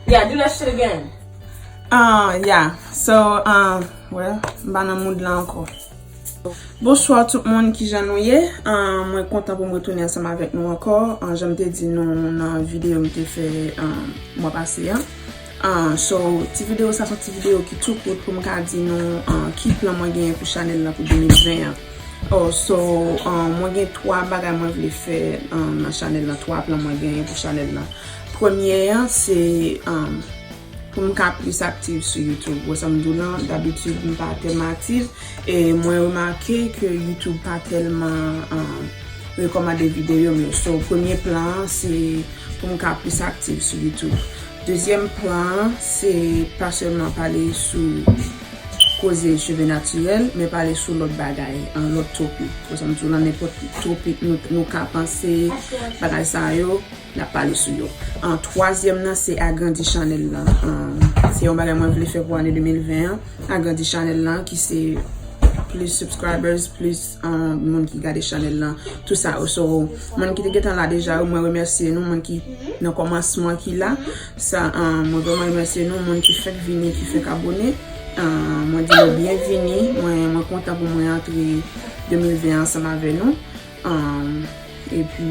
Yeah, do that shit again. Ah, yeah. So, ah, well, m pa nan mood la anko. Bonsoir tout moun ki jan nou ye. Ah, mwen kontan pou m retounen ansanm avèk nou anko. Ah, jan m te di nou nan video m te fè ah, mwa pase an. Ah, so, ti video sa son ti video ki tou kout pou m ka di nou ah, ki plan mwen genyen pou chanèl la pou 2020 an. Oh so mwen gen 3 bagay mwen vle fè nan chanèl lan 3 plan mwen genyen pou chanèl lan premye an se pou m ka plis aktiv sou youtube wè sa m di w lan dabitid m pa tèlman aktiv e mwen remake ke youtube pa tèlman rekomande videyo m yo so premye plan an se pou m ka plis aktiv sou youtube dezyèm plan an se pa sèlman pale sou koze cheve natirèl, men pale sou lòt bagay, an lòt topik. Ou sa m di w la, nenpòt ki topik nou ka panse, bagay sa yo, n ap pale sou yo. An twazyèm nan se agrandi chanèl lan. Se yon bagay mwen vle fè pou ane 2020 an, agrandi chanèl lan ki se plis subscribers, plis moun ki gade chanèl lan, tout sa yo. So, moun ki te gentan la deja yo, mwen remèsye nou, moun ki nan kòmansman ki la. Sa mwen vreman remèsye nou moun ki fèk vini ki fèk abone mwen di nou byen vini mwen kontan pou mwen antre 2020 an ansanm avè nou epi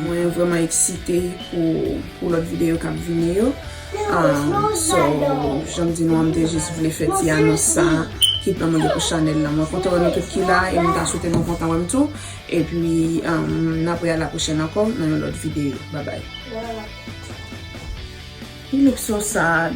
mwen vreman eksite pou lòt videyo kap vini yo so janm di nou an mte jis vle fè ti anons sa ki pèmèt pou chanèl la mwen kontan wè nou tout ki la e mta swete nou kontan wèm tou. Epi n apre a la pwochèn ankò nan yon lòt videyo. Babay. He look so sad.